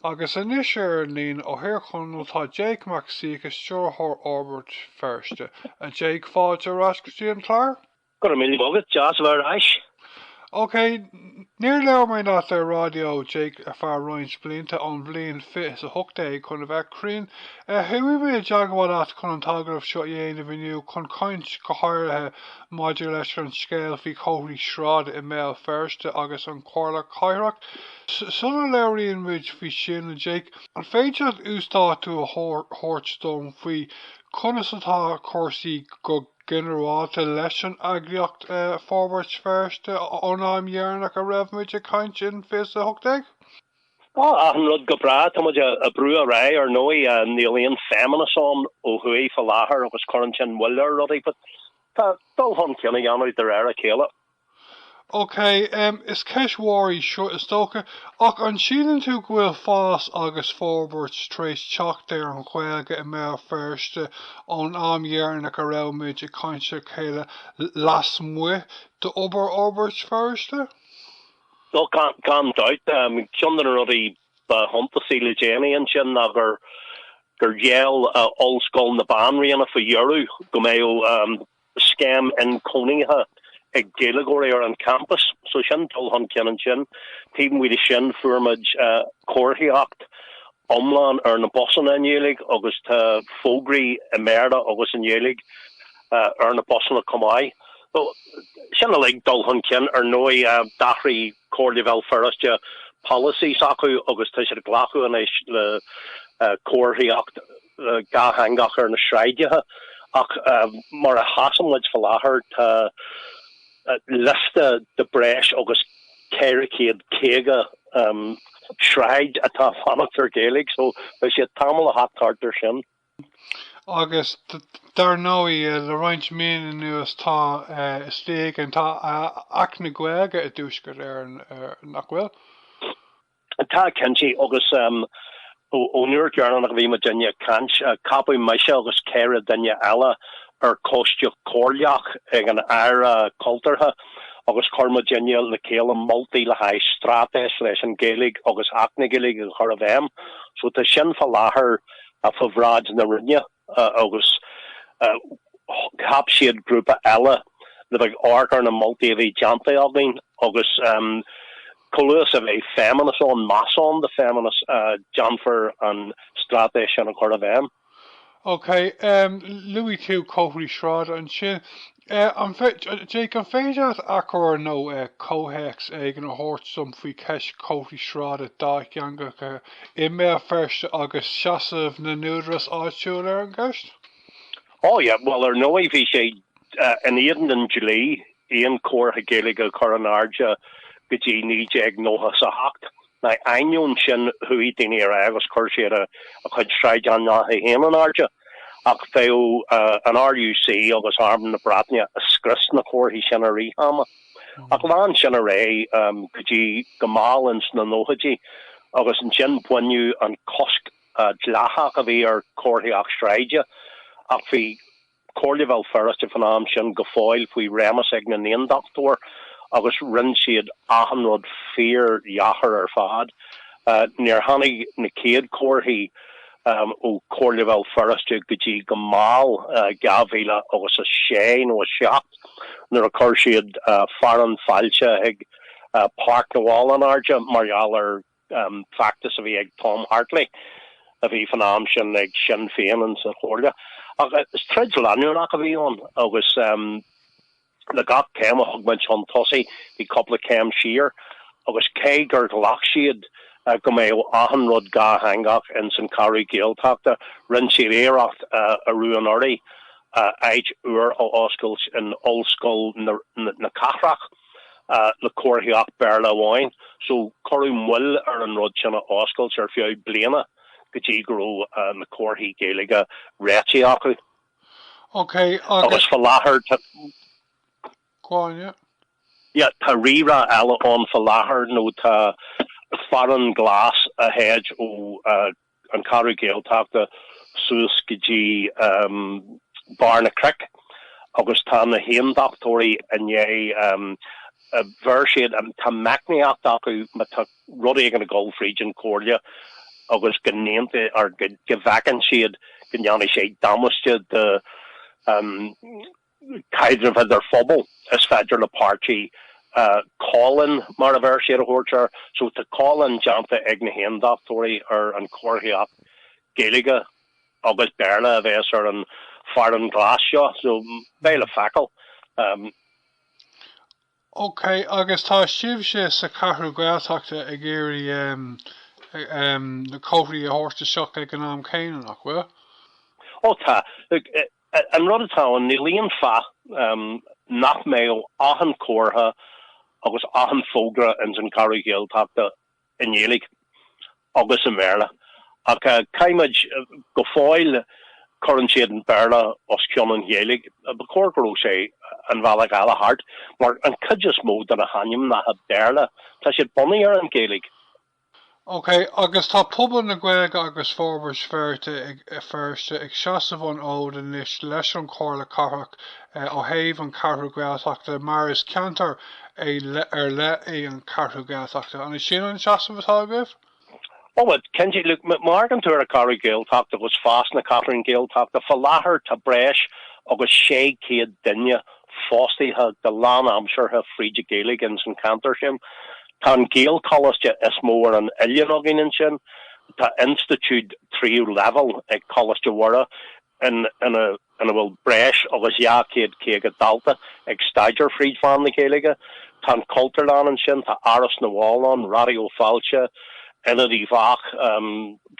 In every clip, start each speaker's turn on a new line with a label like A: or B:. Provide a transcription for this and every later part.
A: Agus anois ar an líne ó Thír Chonaill tá Jake Mac Siacais, Stiúrthóir Fhorbairt Feirste. A Jake, fáilte ar ais go dtí an clár. Go raibh míle maith agat,
B: deas a bheith ar ais. Ok,
A: níor labhair mé leat ar raidió, Jake, ar feadh roinnt blianta, ón bhliain fiche is a hocht déag, chun a bheith cruinn. Chuaigh mé i dteagmháil leat chun an t-agallamh seo a dhéanamh inniu, chun caint, go háirithe, maidir leis an scéal faoi chomharthaí sráide i mBéal Feirste agus an Chomhairle Cathrach. Sula labhraíonn muid faoi sin, a Jake, an féidir leat uasdátú a thabhairt dom faoi conas atá cúrsaí go ginearálta leis an eagraíocht Forbairt Feirste ón am dheireanach a raibh muid ag caint in fiche is a hocht déag? Tá
B: achan rud go breá. Tá muid a' brú ar aghaidh, ar ndóigh. Níl aon feidhmeannas ann ó thuaidh fá láthair agus cuireann sin moill ar rudaí but tá dul chun cinn á dhéanamh de réir a chéile. OK,
A: is ceist mhór í seo, is dócha, ach an síleann tú go bhfuil fás agus forbairt tar éis teacht ar an Ghaeilge i mBéal Feirste ón am dheireanach a raibh muid ag caint le chéile lasmuigh d'obair Fhorbairt Feirste?
B: Bhuel, gan dabht. Ceann de na rudaí ba shuntasaí le déanaí ansin ná gur gheall Ollscoil na Banríona faoi dheireadh go mbeadh scéim inchónaithe ag Gaeilgeoirí ar an champas so sin dul chun cinn ansin. Taobh amuigh de sin fuair muid comharthaíocht iomlán ar na busanna i nGaeilge agus tá fógraí i mBéarla agus i nGaeilge ar na busanna chomh maith. So sin uilig dul chun cinn. Ar ndóigh d'athraigh Comhairle Bhéal Feirste polasaí s'acu agus tá siad ag glacadh anois le comharthaíocht dhátheangach ar na sráideacha ach mar a sheasann muid faoi láthair tá liosta de breis agus 450 sráid atá ag fanacht ar Ghaeilge so beidh siad tamall ag teacht thart ar sin.
A: Agus dar ndóigh, le roinnt míonna anuas tá is dóigh go, tá Acht na Gaeilge i dTuaisceart Éireann, nach bhfuil?
B: Tá, cinnte, agus ón uair dheireanach a bhí muidinne ag caint, ceapadh mise agus ceithre duine eile ar choiste comhairleach ag an Aire Cultúrtha agus chuir muidinne le chéile moltaí le haghaidh straitéis leis an Ghaeilge agus Acht na Gaeilge a chur i bhfeidhm. So tá sin fá láthair a fá bhráid na Roinne agus cheap siad grúpa eile le bheith ag amharc ar na moltaí a bhí déanta againn agus chomh luath is a bheidh feidhmeannas ann, más ann don fheidhmeannas, déanfar an straitéis sin a chur i bhfeidhm. Ok,
A: luaigh tú comharthaí sráide ansin. Jake, an féidir leat achoimre nó comhthéacs éigin a thabhairt dom faoi cheist chomharthaí sráide dátheangacha i mBéal Feirste agus seasamh na n-údarás áitiúil ar an gceist?
B: Oh yeah, bhuel ar ndóigh bhí sé in éadan an dlí aon chomhartha Gaeilge a chur in airde go dtí 1998. Ina ainneoin sin chuaigh daoine ar aghaidh agus chuir siad a chuid sráidainmneacha féin in airde, ach bheadh an RUC agus Arm na Breataine ag scrios na comharthaí sin i rith ama. Ach lean sin ar aghaidh go dtí go mall ins na nóchaidí agus ansin baineadh an cosc dleathach a bhí ar comharthaíocht sráide ach bhí Comhairle Bhéal Feirste fán am sin go fóill faoi réimeas ag na nAondachtóir agus rinn siad achan rud fíordheacair ar fad. Níor tháinig na chéad comharthaí ó Comhairle Bhéal Feirste go dtí go mall dhá mhíle agus a sé nó a seacht nuair a chuir siad fearadh na fáilte chuig Páirc na bhFál in airde mar gheall ar feachtas a bhí ag Tom Hartley, a bhí fán am sin ag Sinn Féin ins an Chomhairle. Ach is troid leanúnach a bhí ann agus le gach céim a thug muid chun tosaigh bhí cúpla céim siar agus cé gur ghlac siad go mbeadh achan rud dhátheangach ins an Cheathrú Gaeltachta, rinn siad iarracht arú anuraidh áit úr a oscailt in Ollscoil na Cathrach. le comharthaíocht Béarla amháin, so cuireadh moill ar an rud sin a oscailt ar feadh bliana go dtí go raibh na comharthaí Gaeilge réitithe acu.
A: Ok, agus fá
B: láthair
A: tá. Go on, yeah. Yeah,
B: tá rírá eile ann fá láthair nó tá Fearann Glas a théid ó. an Cheathrú Gaeltachta suas go dtí barr na cnoic agus tá na hAondachtóirí i ndiaidh bheir siad, tá meicníocht acu má tá rud éigin ag gabháil fríd an Chomhairle agus go ndéanfaidh, go bhfeiceann siad go ndéanfaidh sé damáiste do. caidreamh idir phobal, is féidir le páirtí call-in, mar a bheir siad, a thabhairt air. So tá call-in déanta ag na hAondachtóirí ar an chomharthaíocht Gaeilge agus Béarla a bhéas ar an fearann glas seo. So beidh le
A: feiceáil. OK, agus tá sibhse sa Cheathrú Ghaeltachta ag iarraidh na comharthaí a thabhairt isteach ag an am céanna, nach bhfuil? Ó tá.
B: An rud atá ann, níl aon fáth nach mbeadh achan comhartha agus achan fógra ins an Cheathrú Ghaeltachta i nGaeilge agus i mBéarla. Ach caithfidh muid, go fóill cuireann siad an Béarla os cionn an Ghaeilge. Ba chóir go raibh sé an bhealach eile thart, mar an cuid is mó de na hainmneacha Béarla, tá siad bunaithe ar an Ghaeilge.
A: OK, agus tá pobal na Gaeilge agus Forbairt Feirste ag seasamh an fhóid anois leis an Chomhairle Cathrach ó thaobh an Cheathrú Ghaeltachta mar is ceantar ar leith é an Cheathrú Ghaeltachta. An é sin an seasamh atá agaibh? Ó,
B: bhuel, cinnte, look, má amharcann tú ar an gCeathrú Ghaeltachta agus fás na Ceathrún Ghaeltachta, fá láthair tá breis agus 600 duine fostaithe go lán-aimseartha fríd Ghaeilge ins an cheantar sin. Tá an Gaelcholáiste is mó ar an oileán againn ansin. Tá institiúid tríú leibhéal ag Coláiste Mhuire ina bhfuil breis agus 250 dalta ag staidéar fríd mheán na Gaeilge. Tá an Chultúrlann ansin, tá Áras na bhFál ann, Raidió Fáilte, Ionad Uíbh Eachach,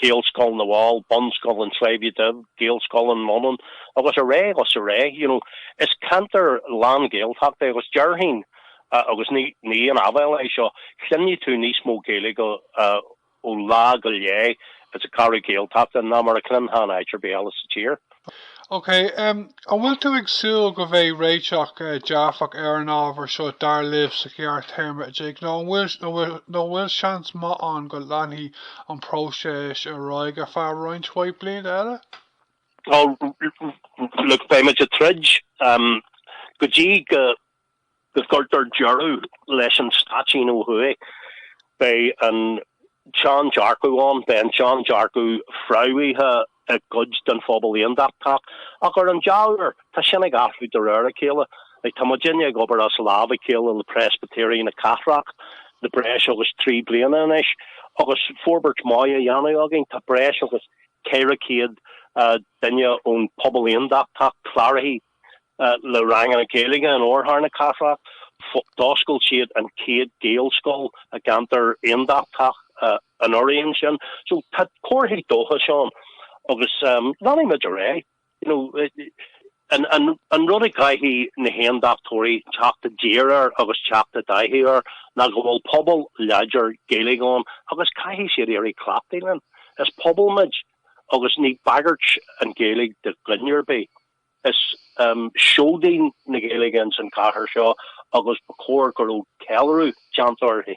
B: Gaelscoil na bhFál, Bunscoil an tSléibhe Duibh, Gaelscoil an Lonnáin, agus araile agus araile, you know. Is ceantar lán-Ghaeltachta é agus déarfainn, Agus ní aon áibhéil é seo, chluinfidh tú níos mó Gaeilge ó lá go lá ins an Cheathrú Ghaeltachta ná mar a chluinfeá in áit ar bith eile sa tír. OK,
A: an bhfuil tú ag súil go mbeidh réiteach dearfach ar an ábhar seo dar libh sa ghearrthéarma, a Jake, nó an bhfuil seans maith ann go leanfaidh an próiseas ar aghaidh ar feadh roinnt mhaith blianta eile? Ó,
B: look, beidh muid ag troid go dtí. go gcuirtear deireadh leis an stáitín ó thuaidh, beidh an tseandearcadh ann, beidh an tseandearcadh fréamhaithe i gcuid den phobal Aondachtach, ach ar an dea-uair, tá sin ag athrú de réir a chéile. Tá muidinne ag obair as lámh a chéile le Preispitéirigh na cathrach le breis agus trí bliana anois agus forbairt maith á dhéanamh againn. Tá breis agus 400 duine ón bpobal Aondachtach cláraithe. le ranganna Gaeilge in Oirthear na Cathrach. D'fhoscail siad an chéad Ghaelscoil i gceantar Aondachtach anuraidh ansin. So tá comharthaí dóchais ann agus leanfaidh muid ar aghaidh. You know, an rud a gcaithfidh na hAondachtóirí teacht i dtír air agus teacht i dtaithí air ná go bhfuil pobal láidir Gaeilge ann agus caithfidh siad éirí cleachtaithe linn. Is pobal muid agus ní bagairt an Ghaeilge do dhuine ar bith. Is seoid í an Ghaeilge ins an chathair seo agus ba chóir go raibh ceiliúradh déanta uirthi.